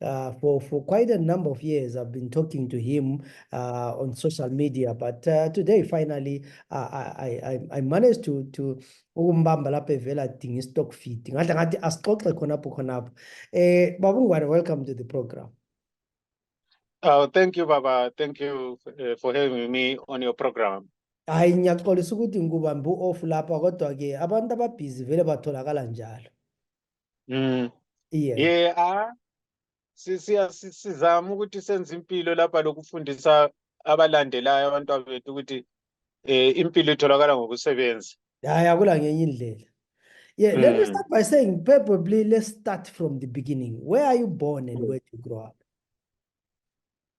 Uh, for, for quite a number of years, I've been talking to him uh, on social media. But uh, today, finally, I, I, I managed to, to ukumbamba lapha evela adinga i-stock feed ngadla ngathi asixoxe khonapho khonapho eh babungwane welcome to the program Oh, thank you, Baba. Thank you uh, for having me on your program. hayi ngiyaxolisa ukuthi ngikubambe u-off lapha kodwa-ke abantu ababhizi vele batholakala njalo Mm. Yeah. Yeah, ah sisiya sizama ukuthi senze impilo lapha lokufundisa abalandelayo abantwana bethu ukuthi eh impilo itholakala ngokusebenza. Hayi akula ngenye indlela. Yeah, let me mm. start by saying probably let's start from the beginning. Where are you born and where did you grow up?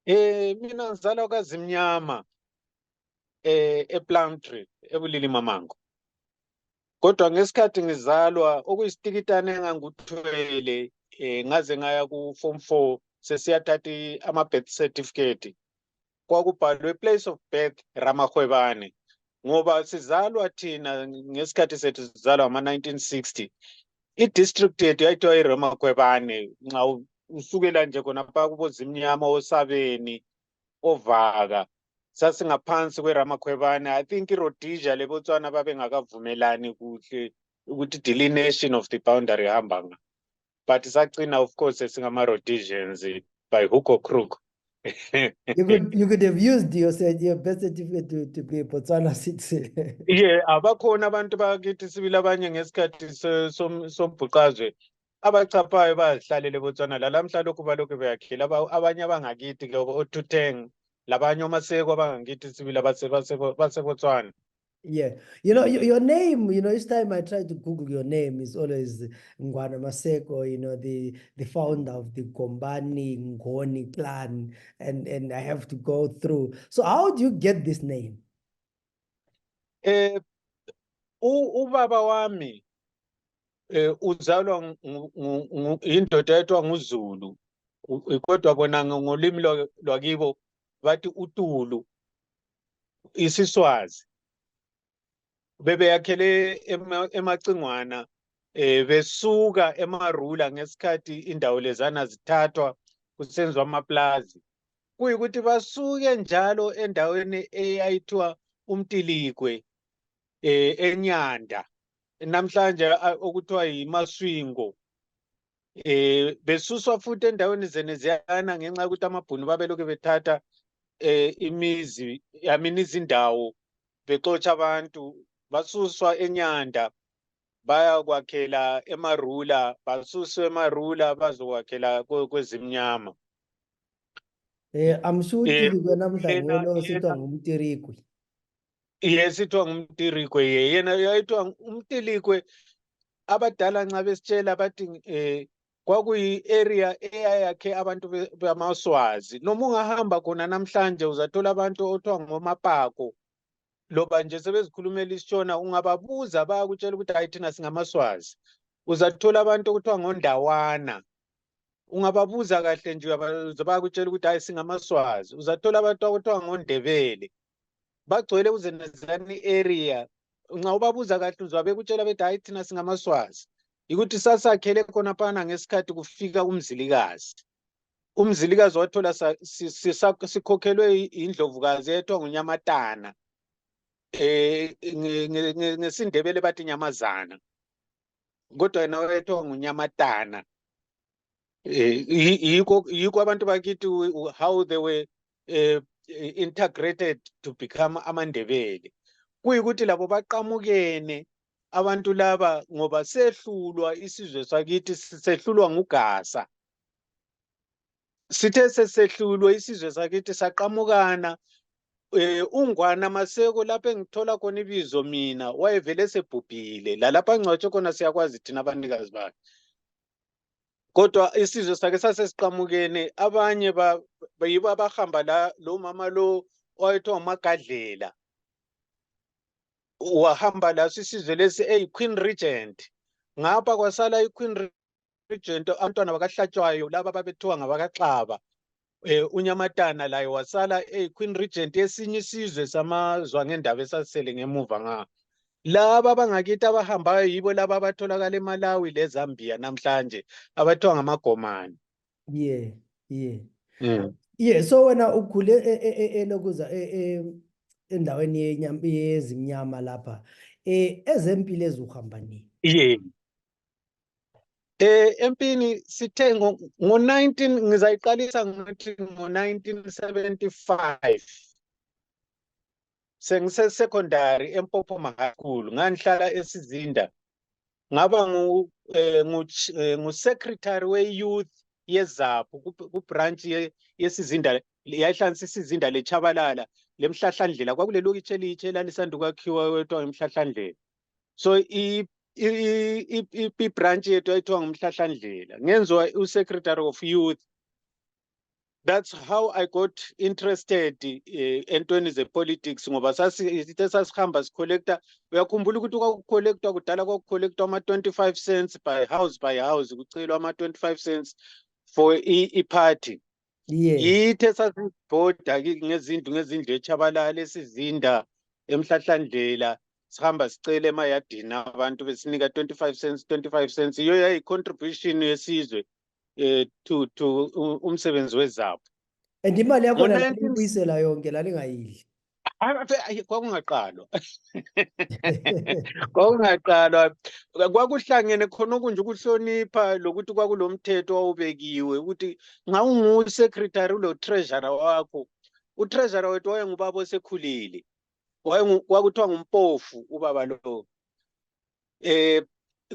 Eh mina ngizalwa kwaZimnyama eh ePlumtree ebulili mamango. kodwa ngesikhathi ngizalwa okuyisitikitane engangikuthwele um ngaze ngaya ku-form four sesiyathatha ama-birth certificate kwakubhalwe place of birth ramahwebane ngoba sizalwa thina ngesikhathi sethu sizalwa ngama-1960 i-district yethu yayithiwa iramakhwebane nxa usukela nje khonapha kubozimnyama osabeni ovaka sasingaphansi kweramakhwebane i think irhodesia lebotswana babengakavumelani kuhle ukuthi delineation of the boundary ihamba nga but sagcina of course esingamarhodesians by hook or crook you could you could have used your your birth certificate to, to be a Botswana citizen. yeah, abakhona abantu bakithi sibili abanye ngesikhathi sombhuqazwe abachaphayo bayazihlalele botswana lalamhla lokhu balokhu beyakhile abanye abangakithi ke othuteng labanye omaseko abangakithi sibili basebotswana Yeah, you know your, your name. You know, each time I try to Google your name, is always Ngwana Maseko. You know, the the founder of the Gombani Ngoni clan, and and I have to go through. So, how do you get this name? Eh ubaba wami eh uzalwa indoda etwa nguZulu kodwa bona ngolimi lwakibo bathi utulu isiswazi bebeyakhele emacingwana eh besuka emarula ngesikhathi indawo lezana zithathwa kusenziwa amaplazi kuyikuthi basuke njalo endaweni eyayithiwa umtiligwe eh enyanda namhlanje okuthiwa yimaswingo eh besuswa futhi endaweni zene ziyana ngenxa yokuthi amabhunu babelokhu bethatha eh imizi yamini izindawo bexotsha abantu basuswa enyanda bayakwakhela emarula basuswa emarula bazokwakhela kwezimnyama Eh amsuti Eh, kwena mhlangwelo yena- ositwa yena- ngumtirikwi. yesithiwa ngumtirikwe ye yena yayithiwa ng- umtilikwe abadala nxa besitshela bathi eh kwakuyi-area eyayakhe abantu be- bamaswazi noma ungahamba khona namhlanje uzathola abantu othiwa ngomapako loba nje sebezikhulumela isitshona ungababuza bayakutshela ukuthi hayi thina singamaswazi uzathola abantu okuthiwa ngondawana ungababuza kahle nje bayakutshela ukuthi hayi singamaswazi uzathola abantu akuthiwa ngondebele bagcwele uzenazani area nxa ubabuza kahle uzwa bekutshela bethi hayi thina singamaswazi yikuthi sasakhele khonaphana ngesikhathi kufika umzilikazi umzilikazi wathola sikhokhelwe yindlovukazi eyethwa ngunyamatana um ngesindebele bathi nyamazana kodwa yena wayethiwa ngunyamatana eh, yikho yikho abantu bakithi how they were uh, integrated to become amandebele kuyikuthi labo baqamukene abantu laba ngoba sehlulwa isizwe sakithi sehlulwa ngugasa sithe sesehlulwe isizwe sakithi saqamukana eh ungwana maseko lapho engithola khona ibizo mina wayevele sebhubhile lalapha ngcwatshe khona siyakwazi thina abanikazi bakhe kodwa isizwe sakhe sasesiqamukene abanye yibo abahamba la lo mama lo owayethiwa umagadlela wahamba laso isizwe lesi eyi-queen regent ngapha kwasala i-queen Regent abantwana bakaHlatshwayo laba babethiwa ngabakaXaba eh uNyamatana laye wasala eh Queen Regent esinye isizwe samazwa ngendaba esasele ngemuva nga laba bangakithi abahambayo yibo laba abatholakala eMalawi leZambia namhlanje abathiwa ngamagomani yeah yeah mm. yeah so wena ukhule e- e- e- elokuza e- e- endaweni yenyam- yezimnyama lapha eh ezempilo ezuhamba nini yeah Eh empini sithe ngo-19 ngizayiqalisa ngathi ngo-1975 sengisesecondary empopho mahakhulu ngangihlala esizinda ngaba eh, eh, ngu-secretary we-youth yezaphu kubranch yesizinda yayihlanisa isizinda lechabalala lemhlahlandlela kwakulelokitshe elitshe elalisanda ukwakhiwa kwethiwa ngemhlahlandlela so ibranch yethu ayithiwa ngumhlahlandlela ngenziwa usecretary of youth that's how i got interested eh, entweni zepolitics ngoba sasithe sasihamba sicollecta uyakhumbula ukuthi kwakucollectwa kudala kwakucollectwa ama-25 cents by house by house kucelwa ama-25 cents for i-party Yes. Ithe sasibhoda ki- ngezindlu ngezindlu eChabalala esizinda emhlahlandlela sihamba sicela emayadini abantu besinika 25 cents 25 cents iyo yayi contribution yesizwe eh to to u- umsebenzi wezabo. And imali yakhona Ngo-19 laliyibuyisela yonke lalingayidli. Ave- ave- ayi, kwakungaqalwa kwakungaqalwa kwakuhlangene khona okunje ukuhlonipha lokuthi kwakulomthetho owawubekiwe ukuthi nxa ungusekretary ulotreasurer wakho utreasurer wethu wayengubaba osekhulile wayengu- kwakuthiwa ngumpofu ubaba lowo eh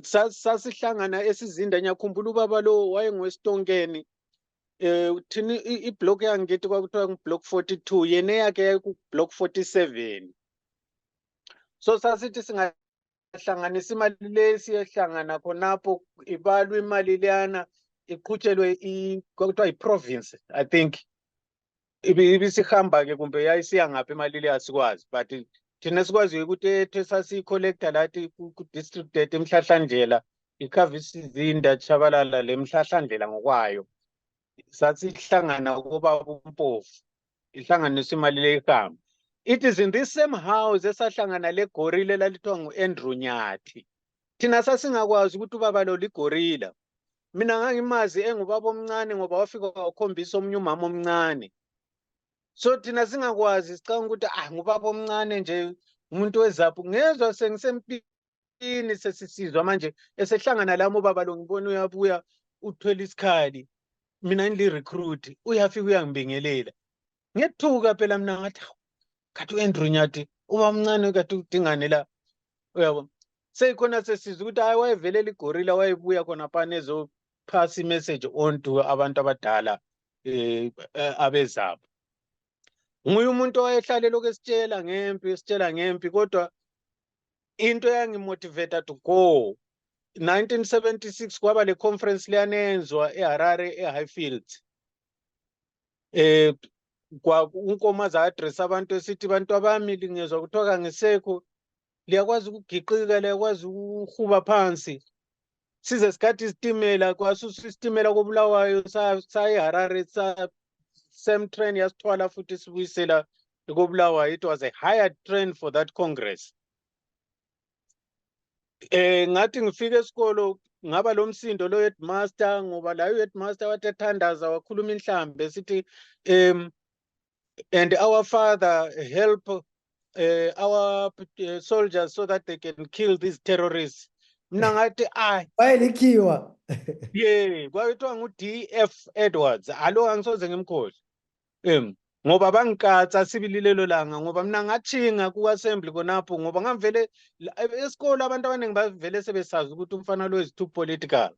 sa- sasihlangana esizinda ngiyakhumbula ubaba lowo wayengowesitonkeni eh thini i- iblock yangithi kwakuthiwa ngublock 42 yena eyakhe yayikublock 47 so sasithi singahlanganisa imali le siyehlangana khonapho ibalwe imali leyana iqhutshelwe i- kwakuthiwa yiprovince i think ibi- ibisihamba-ke kumbe yayisiya ngaphi imali le asikwazi but thina sikwaziyo ukuthi ethe sasiyi-collector lathi ku- ku-district debt emhlahlandlela ikhava isizinda tshabalala le mhlahlandlela ngokwayo sasihlangana kubaba umpofu ihlanganisa imali le ihambe it is in this same house esahlangana legorila elalithiwa ngu-andrew nyathi thina sasingakwazi ukuthi ubaba lo ligorila mina ngangimazi engubaba omncane ngoba wafika wakhombisa omunye umama omncane so thina singakwazi sicanga ukuthi ah ngubaba omncane nje umuntu wezaphu ngezwa sengisempini sesisizwa manje esehlangana lami ubaba lo ngibona uyabuya uthwele isikhali mina ngili-recruit uyafika uyangibingelela ngethuka phela mina ngathi hawu khathi u-andrew nyathi uba mncane khathi udingane la uyabo seyikhona sesiza ukuthi hayi wayevelela igorila wayebuya khona phana ezophasa imessage onto abantu abadala um abezabo nguye umuntu owayehlale lokhu esitshela ngempi esitshela ngempi kodwa into eyangimotivata to go 1976 kwaba le conference leyanenzwa eharare ehighfield eh unkomo aza-address abantu esithi bantu abami lingezwa kuthiwa kangisekho liyakwazi ukugiqika liyakwazi ukuhuba phansi size sikhathi isitimela kwasusa isitimela kobulawayo sayiharare same train yasithwala futhi sibuyisela kobulawayo it was a higher train for that congress Eh ngathi ngifike esikolo ngaba lomsindo lo headmaster ngoba layo headmaster wathi ethandaza wakhuluma inhlambe sithi um and our father help uh, our uh, soldiers so that they can kill these terrorists mina ngathi ayi wayelikhiwa ye kwakuthiwa ngu-df edwards alo angisoze ngimkhohle um ngoba bangikatsa sibili lelo langa ngoba mina ngathinga ku-assembly khonapho ngoba ngangivele esikole abantu abaningi bavele sebesazi ukuthi umfana lo is too political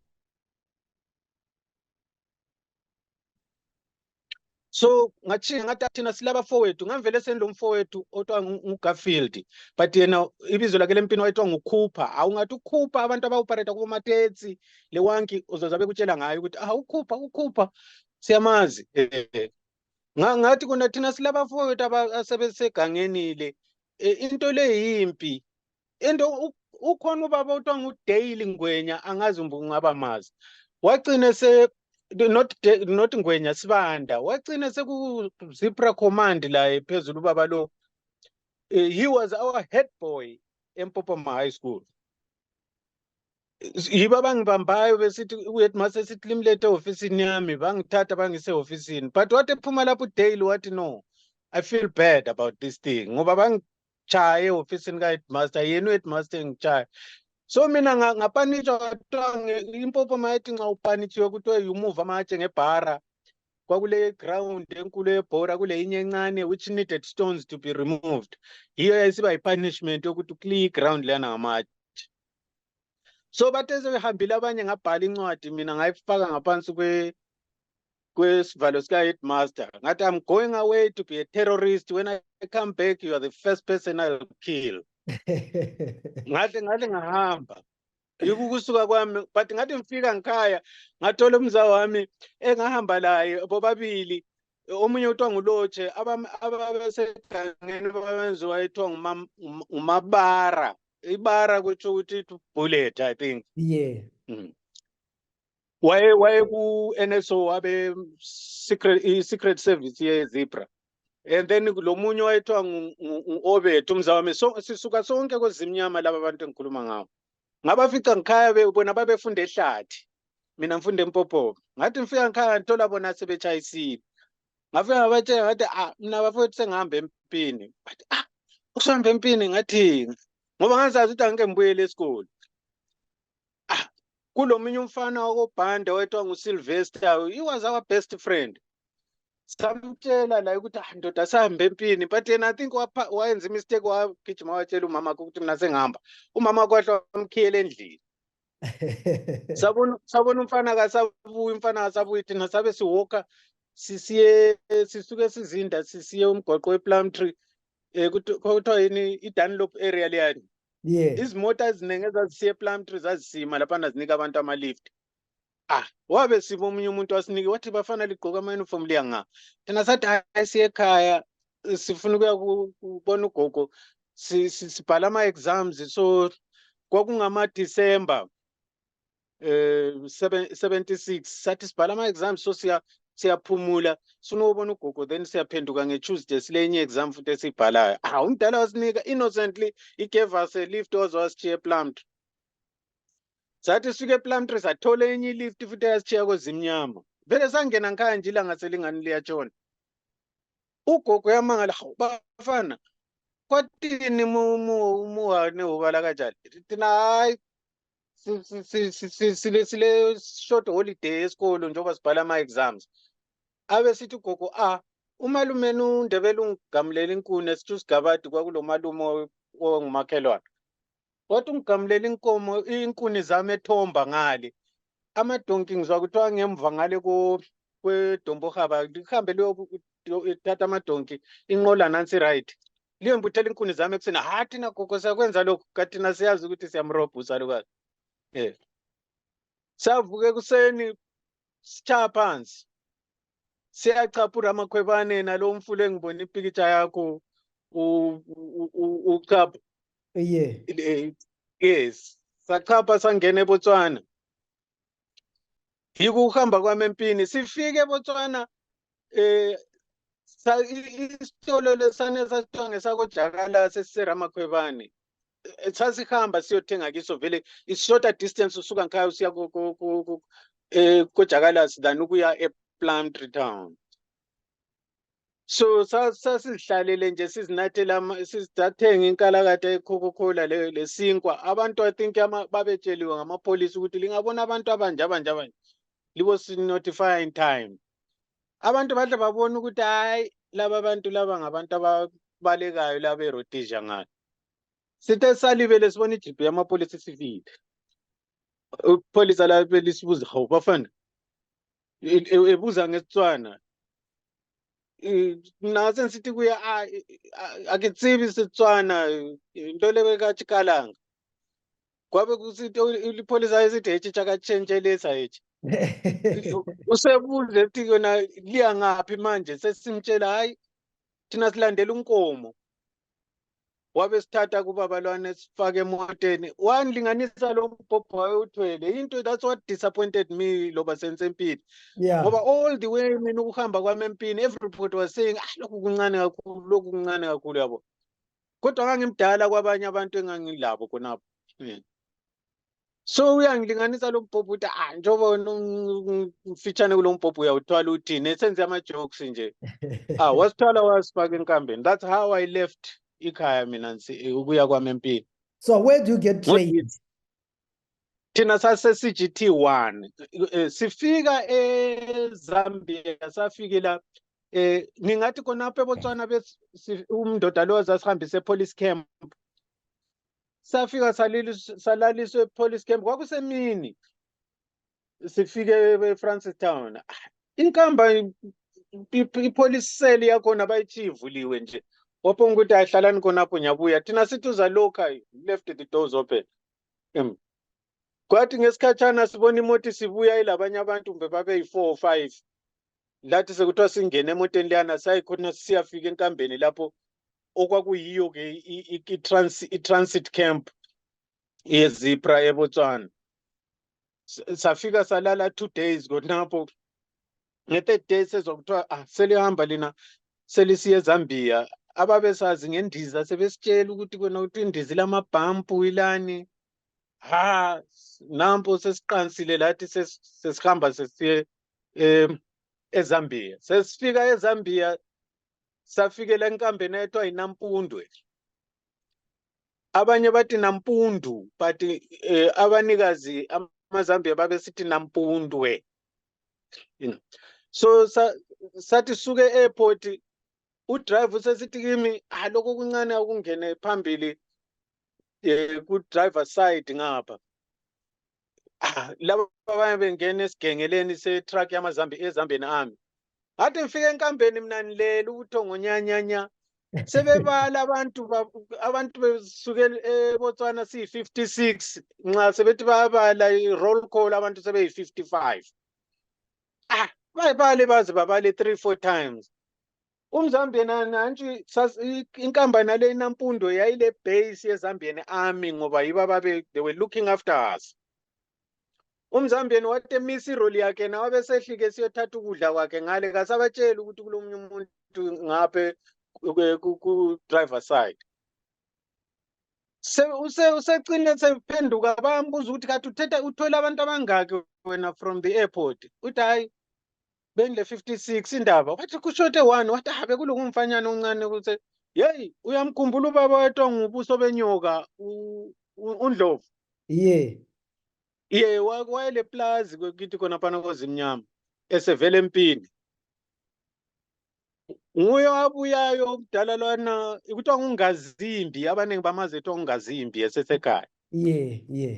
so ngathinga ngathi athina silaba fowethu ngangivele sendilo mfowethu othiwa ngugarfield but yena ibizo lakhe lempini wayethiwa ngukhupha awungathi ukhupha abantu abaopereta kubomatetsi lewanki uzozabe kutshela ngayo ukuthi ah ukhupha ukhupha siyamazi eh, ngathi kona thina silabafowethu asebesegangeni le eh, into le yimpi into ukhona ubaba othiwa ngudale ngwenya angazi umbe ungaba mazi wagcine se not not ngwenya sibanda wagcine sekuzipra command laye phezulu ubaba lo eh, he was our head boy empopoma high school yibo abangibambayo besithi uyet ma sesithi limlethe ehofisini yami bangithatha bangisehofisini but wathi ephuma lapho udaily wathi no i feel bad about this thing ngoba bangichaye ehofisini ka-headmaster yena u-headmaster engichaye so mina ngapanitsha kuthiwa impopho mayethi nxa upanitshiwe kuthiwe yumuva amatshe ngebhara kwakule ground enkulu yebhora kuleyinye encane which needed stones to be removed yiyo yayisiba yi-punishment yokuthi ukliye iground leyana ngamatshe so bathe sebehambile abanye ngabhala incwadi mina ngayifaka ngaphansi kwesivalo sika-headmaster ngathi i'm going away to be a terrorist when i come back you are the first person i'll kill ngahle ngahle ngahamba yikho ukusuka kwami but ngathi ngifika ngikhaya ngathola umza wami engahamba laye bobabili omunye kuthiwa ngulotshe ababesegangeni babenziwa ethiwa ngumabara ibara kutsho ukuthi bullet i think yeah mm. waye waye ku NSO wabe secret i secret service ye Zebra and then lomunye wayethiwa ngu- ngu- ngu-obed umzawami so, sisuka sonke kwezimnyama laba bantu engikhuluma ngawo ngabafica ngikhaya be- bona babefunda ehlathi mina ngifunda empopopo ngathi ngifika ngikhaya ngithola bona sebetshayisile ngafika ngabatshela ngathi ah mina bafowethu sengihamba empini bathi ah usuhamba empini ngathini ngoba ngazazi ukuthi angike ngibuyele esikole ah kulomunye umfana wakobhanda wethiwa ngusilvester he was our best friend samtshela laye ukuthi ah ndoda sihambe empini but yena i think wayenza imistake wagijima watshela umama wakhe ukuthi mina sengihamba umama kwahle wamkhiyela endlini sabona sabona umfana kasabuyi umfana kasabuyi thina sabe siwoka sisiye sisuke sizinda sisiye umgwaqo weplum tree um kuthiwa yini i-dunlop area leyani yes izimota eziningi ezazisiya eplumtree zazisima laphana zinika abantu amalift ah wabe siba omunye umuntu wasinike wathi bafana ligqoka ama-uniform liya nga thina sathi hayi siye ekhaya sifuna ukuya kubona ugogo sibhala ama-exams so kwakungama-december eh, seven- 76 sathi sibhala ama-exam so siya- siyaphumula sinobona ugogo then siyaphenduka ngetuesday silenye exam futhi esiyibhalayo ah umdala wasinika innocently he gave us a lift waze wasishiya eplumtree sathi sifike eplumtree sathola enye ilift futhi eyasishiya kwezimnyama vele sangena ngikhaya nje ilanga selingani liyatshona ugogo yamangala hawu bafana kwatini mu- mu- muhane ubala kanjani thina hayi si- si- si- si- si- sile sile short holiday esikolo njengoba sibhala ama exams abe sithi ugogo ah umalume nundebele ungigamulela inkuni esithi usigabadi kwakulomalume o- ongumakhelwane wathi ungigamulela inkomo inkuni zami ethomba ngale amadonki ngizwa kuthiwa ngemva ngale ko- kwedombohaba lihambe liyothatha amadonki inqola nansi right liyo ngibuthela inkuni zami ekuseni ha thina gogo siyakwenza lokhu kathina siyazi ukuthi siyamrobha usalukazi um savuka ekuseni sitshaya phansi siyachapha uramakhwebane nalo mfula engibona ipikitsha yakho uchapha ye yes sachapha sangena ebotswana yiko ukuhamba kwami empini sifike ebotswana eh isitolo lesane sasithiwa ngesakojakala sesiseramakhwebane eh, sasihamba siyothenga kiso vele i-shorter distance usuka ngikhaya usiya um kojakalasi than ukuya e-plumtree town so sasizihlalele nje sizinathela sizathenga inkalakatha ekhokhokhula lesinkwa abantu i think babetsheliwe ngamapholisi ukuthi lingabona abantu abanje abanje abanje libo sinotify in time abantu bahle babona ukuthi hayi laba bantu laba ngabantu ababalekayo laba erodesia ngalo sithe salibele sibona ijibhi yamapholisi sifile ipholisa labe lisibuza hawu bafana E- e- ebuza ngesitswana Eh, na se ntse ti kuya a a- a ke tsibi setswana eh, nto lebe ka chikalanga kwabe kusito lipholisa esithi hechi chakatshentshelisa hechi usebuze ti yona liya ngaphi manje sesimtshela hayi thina silandela unkomo wabe sithatha kubabalwane sifake emoteni wangilinganisa lo mbhobho wayewuthwele into that's what disappointed me loba sense empini yeah. ngoba all the way mina ukuhamba kwami empini everybody was saying ah lokhu kuncane kakhulu lokhu kuncane kakhulu yabo kodwa ngangimdala kwabanye abantu engangilabo khonapho so uyangilinganisa lo mbhobho ukuthi ah njengoba wena umfitshane kulo mbhobho uyawuthwala uthini esenze ama-jokes nje ah wasithwala wasifaka enkambeni that's how i left ikhaya mina ukuya kwami empini so where do you get trained thina sase-cgt one eh, sifika ezambia safike la eh ngingathi khonapho ebotswana umndoda lo zasihambise epolice camp safika salilis- salaliswa epolice camp kwakusemini sifike efrancis town Ah, inkamba i- i- ipolice cell yakhona bayitshiyivuliwe nje waphonga ukuthi ayihlalani khonapho ngiyabuya thina sithi uzalokha left the doors open Em. kwathi ngesikhatshana sibona imota isibuya ilabanye abantu kumbe babeyi-four or five lathi sekuthiwa singene emoteni leyana sayikhona siyafika enkambeni lapho okwakuyiyo ke i-transit camp yezipra ebotswana safika salala two days khonapho nge-third day sezwa kuthiwa ah selihamba lina selisiye ezambia ababesazi ngendiza sebesitshela ukuthi kona ukuthi indiza ilamabhampu ilani ha nampo sesiqansile lathi sesihamba sesiye um ezambia sesifika ezambia safikela enkambeni ayethiwa yinampundwe abanye bathi nampundu but um eh, abanikazi amazambia babesithi nampundwe so sathi suke e-airport udrive usesithi kimi ah lokho kuncane akungene phambili um eh, ku-driver side ngapha ah, laba abanye bengena esigengeleni setruck yamazambi ezambeni ami ngathi ngifike enkambeni mina nilele ubuthongo nyanyanya sebebala abantu abantu besuke ebotswana siyi-56 nxa sebethi bayabala i-roll call abantu sebeyi-55 ah bayibale baze babale three four times umzambian nantshi inkampani yale inampundo yayile base yezambian army ngoba yibo ababe they were looking after us umzambian wathi emisa iroli yakhe na wabesehlike siyothatha ukudla kwakhe ngale kasabatsheli ukuthi kulomunye umuntu ngaphe ku-driver side usecine sephenduka bayambuza ukuthi kathi uthetha uthwele abantu abangaki wena from the airport uthi hhayi bengile 56 indaba wathi kushote one wathi ha bekulunga umfanyana oncane ukuthi yeyi uyamkhumbula ubaba wetwa ngubuso benyoka undlovu ye ye wayele plazi kwekithi khona phana kozimnyama esevele empini nguye abuyayo kudala lwana kuthiwa ngungazimbi abaningi bamazi kuthiwa ngungazimbi esesekhaya ye ye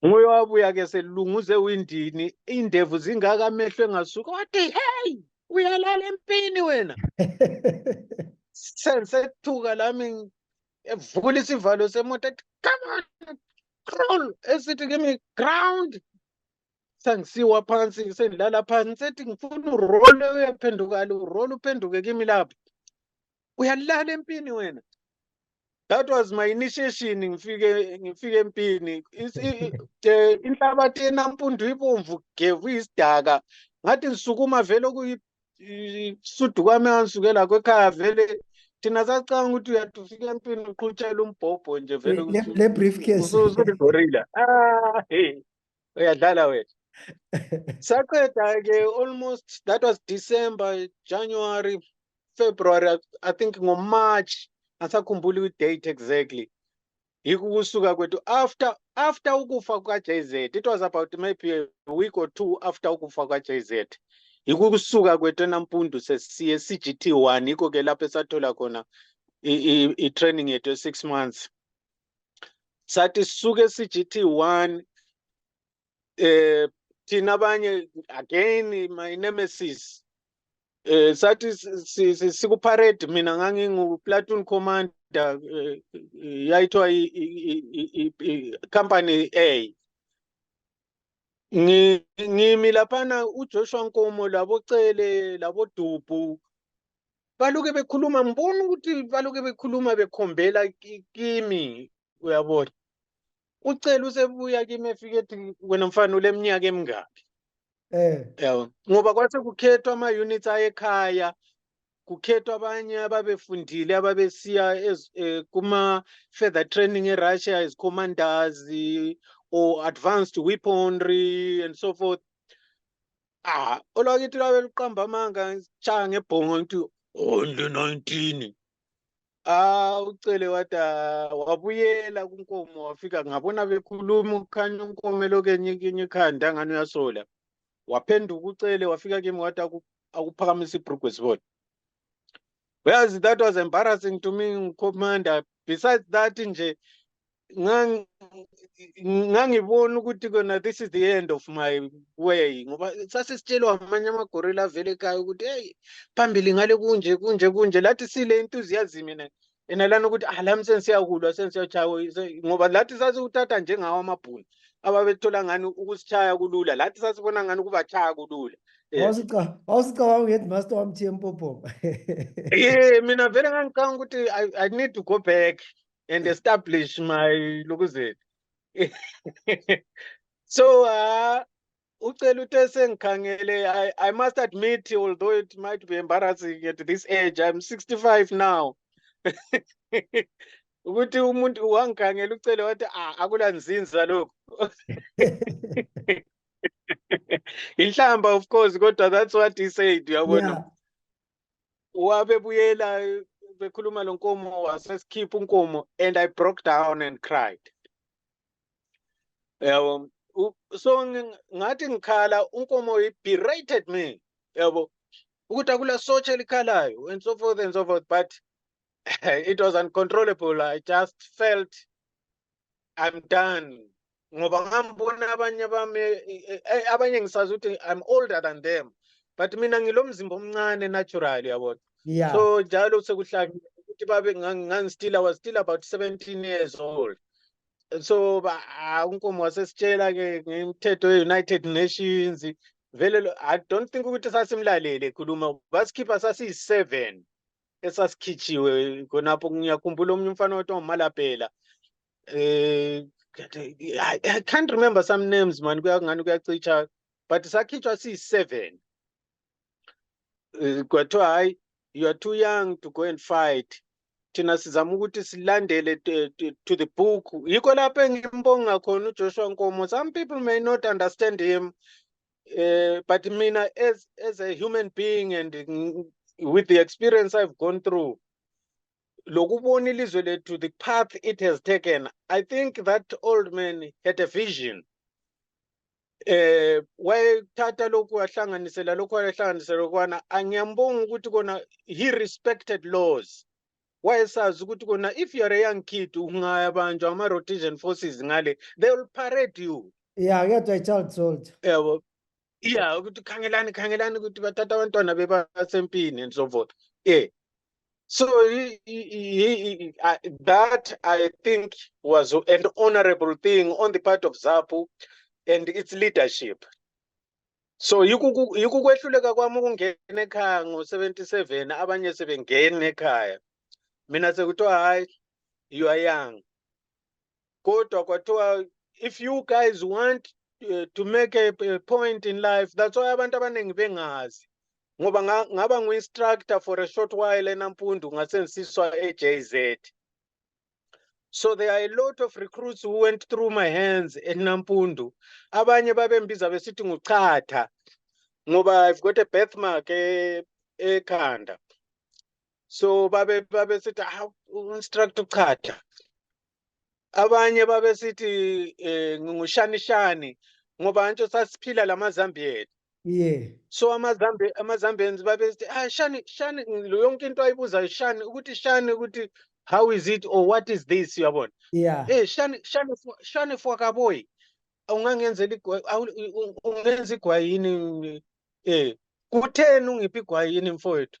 nguye wabuya ke selunguze ewindini indevu zingaka amehlo engasuka wathi hey uyalala empini wena sensethuka lami evula isivalo semoto ethi come on crawl esithi kimi ground sangisiwa phansi sengilala phansi sethi ngifuna urole uyaphendukala urole uphenduke kimi lapho uyalala empini wena that was my initiation ngifike ngifike empini inhlabathi enampundu ibomvu gevu isidaka ngathi ngisukuma vele okuyisudu kwami angisukela kwekhaya vele thina sacanga ukuthi uyathi ufike empini uqhutshela umbhobho nje vele le briefcase usuligorilla ah hey uyadlala wethu saqeda-ke almost that was december january february i think ngomarch angisakhumbuli kwi-date exactly yikho ukusuka kwethu after after ukufa kuka-j z it was about maybe a week or two after ukufa kuka-j z yikho ukusuka kwethu enampundu sesiye e-c-g-t one yikho-ke lapho esathola khona i-training yethu e-six months sathi suke CGT 1 eh thina abanye again my nemesis eh sathi sikuparade mina ngangingu platoon commander eh, yayithiwa i company A ngimi laphana uJoshua Nkomo labocele labodubhu baloke bekhuluma ngibona ukuthi baloke bekhuluma bekhombela kimi uyabona ucela usebuya kimi efike ethi wena mfana uleminyaka emingaki eh yabo ngoba kwase kukhethwa ama units ayekhaya kukhethwa abanye ababefundile ababesiya eh, kuma further training eRussia as commanders or advanced weaponry and so forth ah olwakithi lwabe luqamba amanga tshaya ngebhongo ngithi only 19 ah ucele wathi ah, wabuyela kunkomo wafika ngabona bekhuluma ukhanya unkomo elokenyikinye ikhanda ngani uyasola waphenduka ucele wafika kimi wathi akuphakamise ibrugwe sibona Whereas that was embarrassing to me, Commander. Besides that, nje, ngang- ngangibona ukuthi kona this is the end of my way ngoba sasisitshelwa amanye amagorilla avele ekhaya ukuthi heyi phambili ngale kunje kunje kunje lathi sile enthusiasm and yena lana ukuthi ah lami sensiyakulwa sensiyatshawa ngoba lathi sasiwuthatha njengawo amabhunu ababethola ngani ukusitshaya kulula lathi sasibona ngani ukubatshaya kulula eh. wawusicabanga uheadmaster wamthiye mpophoma ye mina vele ngangicanga ukuthi i need to go back and establish my lokuzethu so uh, ucela uthe sengikhangele I, i must admit although it might be embarrassing at this age i'm 65 now ukuthi umuntu wangikhangela ucele wathi ah akula nzinza lokhu inhlamba of course kodwa that's what he said uyabona yeah. wabebuyela bekhuluma lo nkomo wasesikhipha unkomo and i broke down and cried yabo so ngathi ngikhala unkomo berated me yabo ukuthi akula sotsha elikhalayo and so forth and so forth but it was uncontrollable i just felt i'm done ngoba ngambona abanye bami abanye ngisazi ukuthi i'm older than them but mina ngilomzimba omncane natural yabona yeah so njalo sekuhlangile ukuthi babe ngangistila was still about 17 years old so ah, unkomo wasesitshela ke ngemithetho ye-united nations vele i don't think ukuthi sasimlalele ekhuluma basikhipha sasiyi-seven esasikhijiwe khonapho ngiyakhumbula omunye umfana wathi ongumalabhela eh I can't remember some names man kuyangani kuyacitsha but sakhitshwa siyi-seven eh, kwathiwa hayi you are too young to go and fight thina sizama ukuthi silandele to the book yikho lapho engimbonga khona ujoshua nkomo some people may not understand him uh, but mina as, as a human being and with the experience i've gone through lokubona ilizwe lethu the path it has taken i think that old man had a vision eh wayethatha lokhu wahlanganisela lokhu wayehlanganisela lokwana angiyambonga ukuthi kona he respected laws wayesazi ukuthi kona if you are a young kid ungayabanjwa ama-rhodesion forces ngale they will parade you ya kuyadwa i-child soldier yabo yeah ukuthi khangelani khangelani ukuthi bathatha abantwana bebasempini and so forth eh So he, he, he, I, that I think was an honorable thing on the part of ZAPU and its leadership. So yikuku- yikukwehluleka kwami ukungena ekhaya ngo-77 abanye sebengena ekhaya. Mina sekuthiwa hayi you are young. kodwa kwathiwa if you guys want uh, to make a, a point in life that's why abantu abaningi bengazi ngoba ngaba ngu-instructor for a short while enampundu ngasenzisiswa e-jz so there are a lot of recruits who went through my hands enampundu abanye babembiza besithi nguchatha ngoba i've got a birthmark ekhanda so babe babesithi ah instructor uchacha abanye babesithi eh, ngingushanishani ngoba ntsho sasiphila lamazambiyeni yeah so amazambe amazambians babesithi ah shani shani lo yonke into ayibuzayo shani ukuthi shani ukuthi how is it or what is this uyabona yeah eh shani shani fo- shani fwakaboyi ungangenzela igwa awu- u- u- ungenza igwayini eh kutheni ungiphi igwayini mfowethu